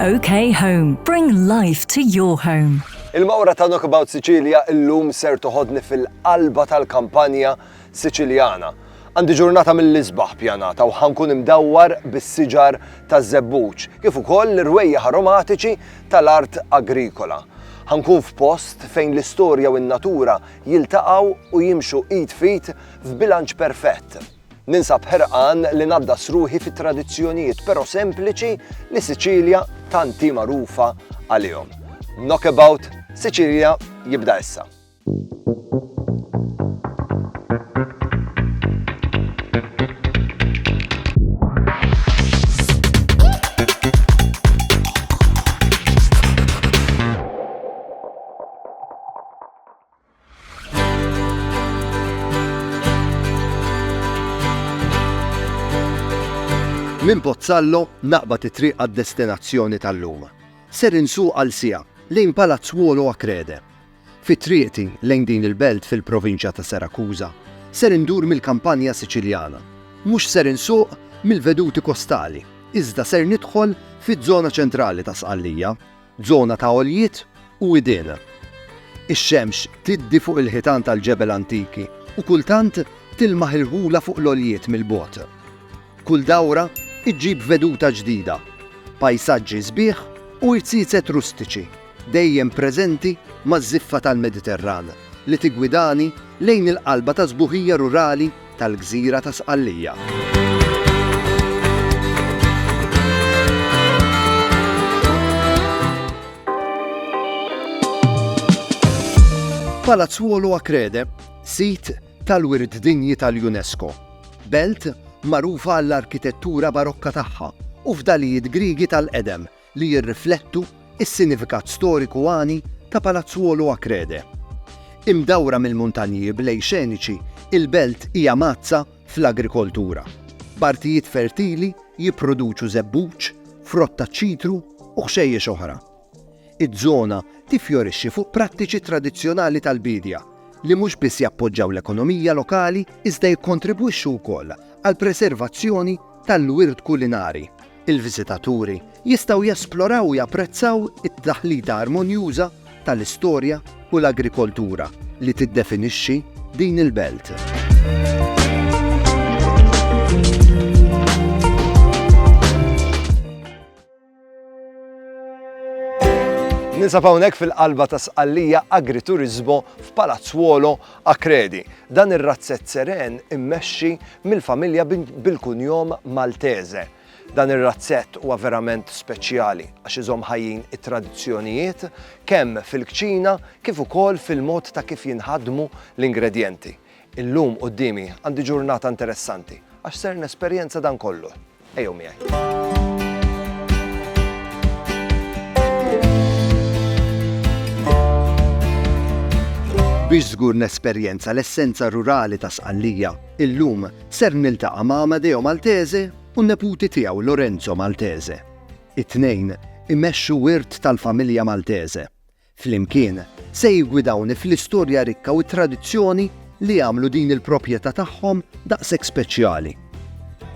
OK Home, bring life to your home. Il-mawra ta' Knockabout Sicilia illum ser toħodni fil-qalba tal-kampanja Siċiljana. Għandi ġurnata mill-isbaħ pjanata u ħankun imdawwar bis-siġar taż-żebbuġ, kif ukoll l-irwejjaħ aromatiċi tal-art agrikola. Ħankun f'post fejn l-istorja u n-natura jiltaqgħu u jimxu id f'id f'bilanċ perfett. Ninsab ħerqan li ngħaddas ruħi fi tradizzjonijiet però sempliċi li Siċilja tant hi magħrufa għalihom. Knockabout Siċilja jibda issa. Minn Pozzallo naqbad it-triq għad-destinazzjoni tal-lum. Ser insuq għal siegħa lejn Palazzuolo Acrede. Fi triqti lejn din il-belt fil-provinċja ta' Serakuża, ser indur mill-Kampanja Siċiljana. Mhux ser insuq mill-veduti kostali, iżda ser nidħol fiż-żona ċentrali ta' Sqallija. Żona ta' għoljiet u widien. Ix-xemx tiddi fuq il-ħitan tal-ġebel antiki u kultant tilmaħ irħula fuq l-għoljiet mill-bogħod. Kull dawra ġġib veduta ġdida, pajsaġġi sbieħ u irziezet rustiċi dejjem preżenti maż-żiffa tal-Mediterran. li tiggwidani lejn il-qalba tas-sbuħija rurali tal-gżira ta' Sqallija. Palazzuolo Acrede, sit tal-wirt dinji tal-UNESCO, belt magħrufa għall-arkitettura barokka tagħha u fdalijiet Grigi tal-qedem li jirriflettu s-sinifikat storiku għani ta' Palazzuolo a Crede. Imdawra mill-muntanji b'lejl xeniċi, il-belt hija mgħaddsa fl-agrikoltura, b'artijiet fertili jipproduċu żebbuġ, frott taċ-ċitru u ħxejjex oħra. Iż-żona tiffjorixxi fuq prattiċi tradizzjonali tal-biedja li mhux biss jappoġġaw l-ekonomija lokali iżda jikkontribwixxu wkoll għall-preservazzjoni tal-wirt kulinari. Il-viżitaturi jistgħu jesploraw u japprezzaw it-taħlita armonjuża tal-istorja u l-agrikoltura li tiddefinixxi din il-belt. Ninsab hawnhekk fil-qalba ta' Sqallija Agrituriżmu f'Palazzuolo Accredi, dan ir-razzett seren immexxi mill-familja bil-kunjom Maltese. Dan ir-razzett huwa verament speċjali għax iżomm ħajjin it-tradizzjonijiet kemm fil-kċina kif ukoll fil-mod ta' kif jinħadmu l-ingredjenti. Illum quddiemi għandi ġurnata interessanti għax ser nesperjenza dan kollu. Ejjew miegħi. Biex żgur nesperjenza l-essenza rurali ta' Sqallija, illum ser niltaqa' ma' Amadeo Maltese u neputi tiegħu Lorenzo Maltese. It-tnejn imexxu wirt tal-familja Maltese. Flimkien, se jiggwidawni fl-istorja rikka u t-tradizzjoni li jagħmlu din il-proprjetà tagħhom daqshekk speċjali.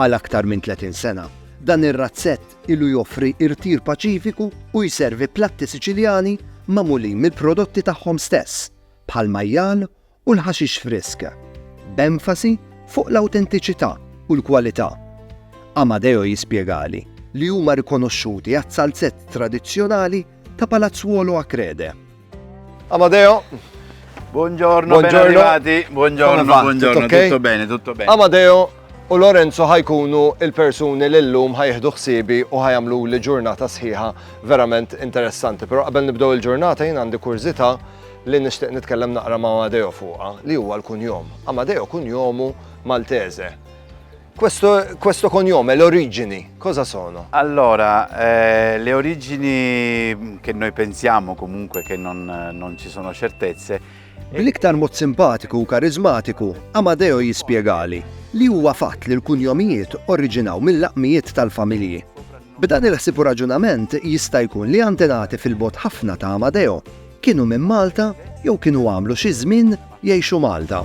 Għal aktar minn 30 sena, dan ir-razzett ilu joffri irtir paċifiku u jservi platti Siċiljani magħmulin mill-prodotti tagħhom stess, bħall-majjal u l-ħaxix frisk, b'enfasi fuq l-awtentiċità u l-kwalità. Amadeo jispjegali li huma rikonoxxuti għas-salzett tradizzjonali ta' Palazzuolo a Crede. Amadeo, Buongiorno, Buongiorno. ben arrivati. Buongiorno, Come va? buongiorno. Tutto, okay? tutto bene, tutto bene. Amadeo u Lorenzo ħa jkunu l-persuni li llum ħa jieħdu ħsiebi u ħa jagħmluli ġurnata sħiħa verament interessanti. Però qabel nibdew il-ġurnata jien għandi kurżità li nixtieq nitkellem naqra ma' Amadeo fuqha li huwa l-kunjom. Amadeo kunjomu Maltese. Questo, questo cognome, le origini, cosa sono? Allora, eh, le origini che noi pensiamo comunque che non, non ci sono certezze, Bl-iktar mod simpatiku u kariżmatiku, Amadeo jispjegali li huwa fatt li l-kunjomijiet oriġinaw mil-laqmijiet tal-familji. B'dan il-ħsieb u raġunament jista' jkun li antenati fil-bogħod ħafna ta' Amadeo kienu minn Malta jew kienu għamlu xi żmien jgħixu Malta.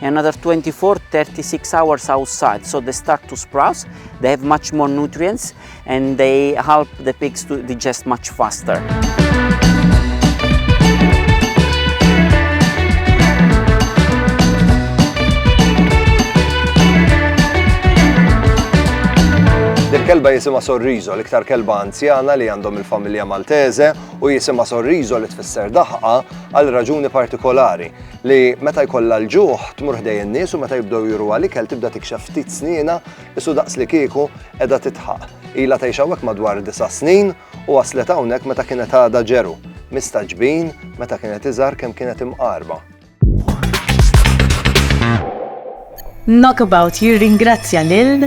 another 24 36 hours outside so they start to sprout they have much more nutrients and they help the pigs to digest much faster kelba jisima sorrizo, l-iktar kelba anzjana li għandhom il-familja Maltese u jisima sorrizo li tfisser daħqa għal raġuni partikolari. li meta jkollha l-ġuħ tmur ħdej in-nies u meta jibdew juruha l-ikel tibda tikxef ftit snienha isu daqslikieku qiegħda tidħaq. Ilha tgħix hawnhekk madwar disa' snin u waslet hawnhekk meta kienet għadha ġeru. Mistagħġbin, meta kienet iżgħar kemm kienet imqarba. Knockabout jirringrazzja lil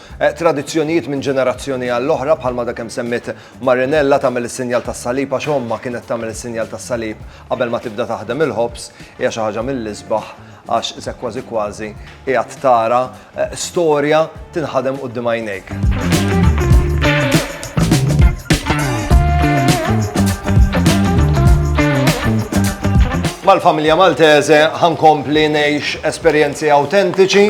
Tradizzjonijiet minn ġenerazzjoni għall-oħra, bħalma dak kemm semmiet Marinella, tagħmel is-sinjal tas-salib għax ommha kienet tagħmel is-sinjal tas-salib qabel ma tibda taħdem il-ħobż, hija xi ħaġa mill-isbaħ għax isek kważi kważi qiegħed tara storja tinħadem quddiem għajnejk. Mal-familja Maltese ħankompli ngħix esperjenzi awtentiċi,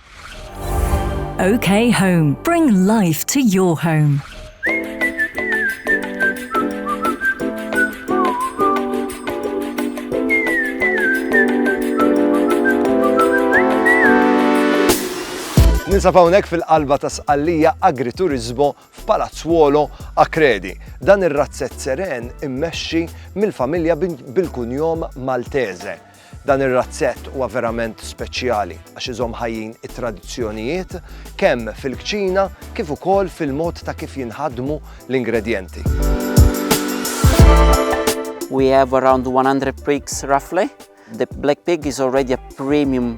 OK Home. Bring life to your home. Ninsab hawnhekk fil-qalba ta' Sqallija Agriturizmo f'Palazzuolo Akredi. Dan ir-razzett seren immexxi mill-familja bil-kunjom Maltese. Dan ir-razzett huwa verament speċjali għax iżomm ħajjin it-tradizzjonijiet kemm fil-kċina kif ukoll fil-mod ta' kif jinħadmu l-ingredjenti. We have around 100 pigs roughly. The black pig is already a premium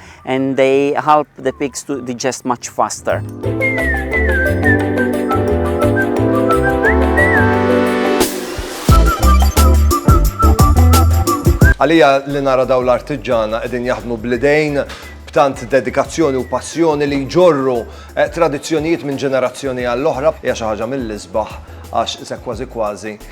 and they help the pigs to digest much faster. Għalija li nara daw l-artiġana qegħdin jaħdmu blidejn b'tant dedikazzjoni u passjoni li jġorru eh, tradizzjonijiet minn ġenerazzjoni għall-oħra hija xi ħaġa mill-isbaħ għax se kważi kważi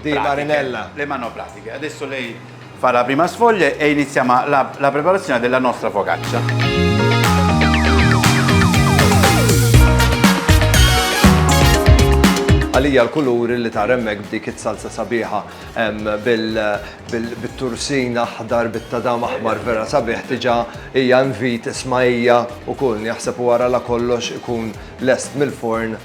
di Marinella. Le mano pratiche. Adesso lei fa la prima sfoglia e iniziamo la, la preparazione della nostra focaccia. għalija l-kuluri li ta' remmek b'dik it-salsa sabiħa bil-tursin aħdar bit-tadam aħmar vera sabiħ tiġa hija invit ismajja u kull jaħseb wara la kollox ikun lest mill-forn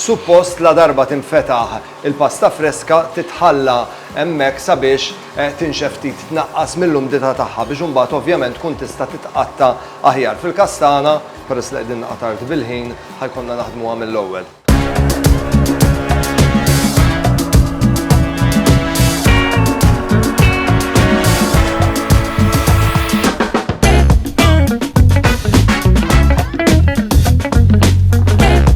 Suppost ladarba tinfetaħ il-pasta freska titħalla hemmhekk sabiex tinxef ftit, tnaqqas mill-umdità tagħha biex imbagħad ovvjament tkun tista' titqatta' aħjar. Fil-każ tagħna, peress li qegħdin naqa' tard bil-ħin, ħa jkollna naħdmuha mill-ewwel.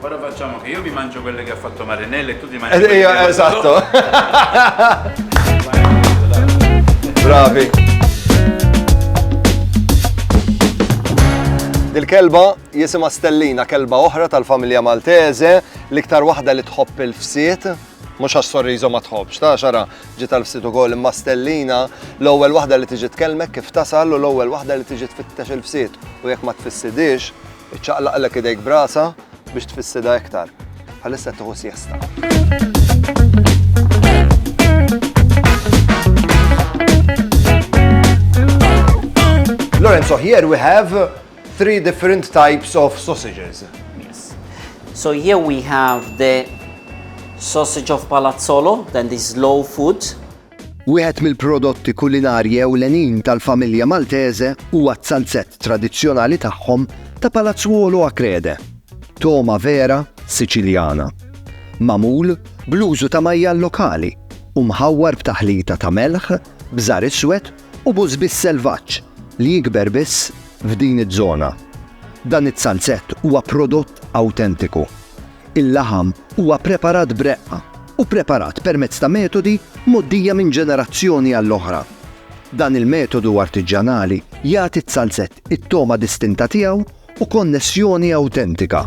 Ora facciamo che io mi mangio quelle che ha fatto Marinella e tu ti mangi quelle che ha fatto... Esatto. Bravi. Dil-kelba jisima Stellina, kelba oħra tal-familja Maltese, l-iktar waħda li tħobb il-fsiet, mux għax sorrizo ma tħobx, ta' xara ġiet għal fsitu gol imma stellina l-ewwel waħda li tiġi tkellmek kif tasal u l-ewwel waħda li tiġi tfittex il-fsit u jekk ma tfissidix Iċċaqlaqlek idejk b'rasha biex tfissidha iktar. Bħalissa qed tieħu Lorenzo, so here we have three different types of sausages. Yes. So here we have the sausage of palazzolo, then this low food. Wieħed mill-prodotti kulinarji ewlenin tal-familja Maltese huwa z-zalzett tradizzjonali tagħhom ta' Palazzuolo a Crede, togħma vera Siċiljana, magħmul bl-użu ta' majjal lokali u mħawwar b'taħlita ta' melħ, bżar iswed u bużbis selvaġġ li jikber biss f'din iż-żona. Dan iz-zalzett huwa prodott awtentiku. Il-laħam huwa preparat b'reqqa u preparat permezz ta' metodi mgħoddija minn ġenerazzjoni għall-oħra. Dan il-metodu artiġġanali jagħti ż-zalzett it-togħma distinta tiegħu u konnessjoni awtentika.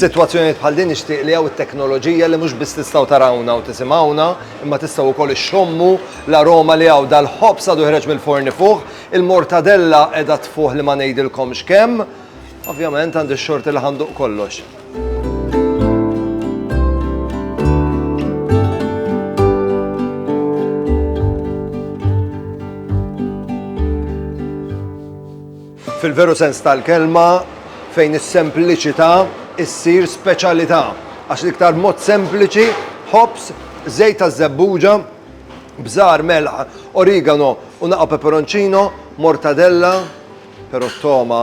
F'sitwazzjonijiet bħal din nixtieq li hawn it-teknoloġija li mhux biss tistgħu tarawna u tisimgħuna, imma tistgħu wkoll ixxommu l-aroma li hawn dal-ħobż għadu ħreġ mill-forni fuq, il-mortadella qiegħda tfuħ li ma ngħidilkomx kemm. Ovvjament għandi x-xorti li ħanduq kollox. Fil-veru sens tal-kelma fejn is-sempliċità issir speċjalità għax l-iktar mod sempliċi ħobs, żejt ta' żebbuġa, bżar, melħ, origano u naqa' peperoncino, mortadella, però toma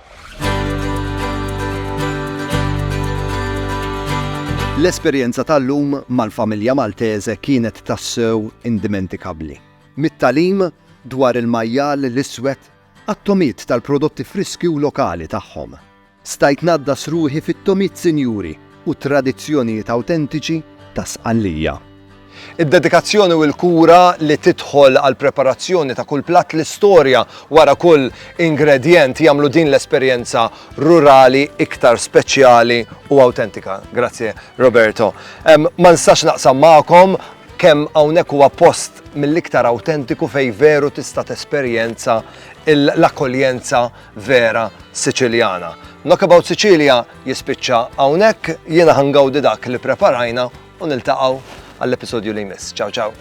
L-esperjenza tal-lum mal-familja Maltese kienet tassew indimentikabbli. Mit-tagħlim dwar il-majjal l-iswed għat-togħmiet tal-prodotti friski u lokali tagħhom. Stajt ngħaddas ruħi fit-togħmiet sinjuri u t-tradizzjonijiet awtentiċi ta' Sqallija. Id-dedikazzjoni u l-kura li tidħol għall-preparazzjoni ta' kull platt, l-istorja wara kull ingredjent jagħmlu din l-esperjenza rurali iktar speċjali u awtentika. Grazzi Roberto. Ma nistax naqsam magħkom kemm hawnhekk huwa post mill-iktar awtentiku fejn veru tista' tesperjenza l-akkoljenza vera Siċiljana. Knockabout Sicilia jispiċċa hawnhekk, jiena ħangawdi dak li preparajna u niltaqgħu għall-episodju li jmiss. Ciao ciao!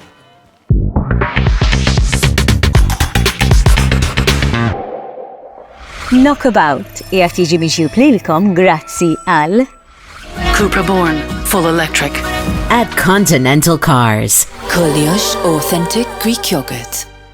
Knockabout jgħat jiġi miġjub lilkom grazzi għal Cupra Born Full Electric at Continental Cars. Koljox Authentic Greek Yogurt.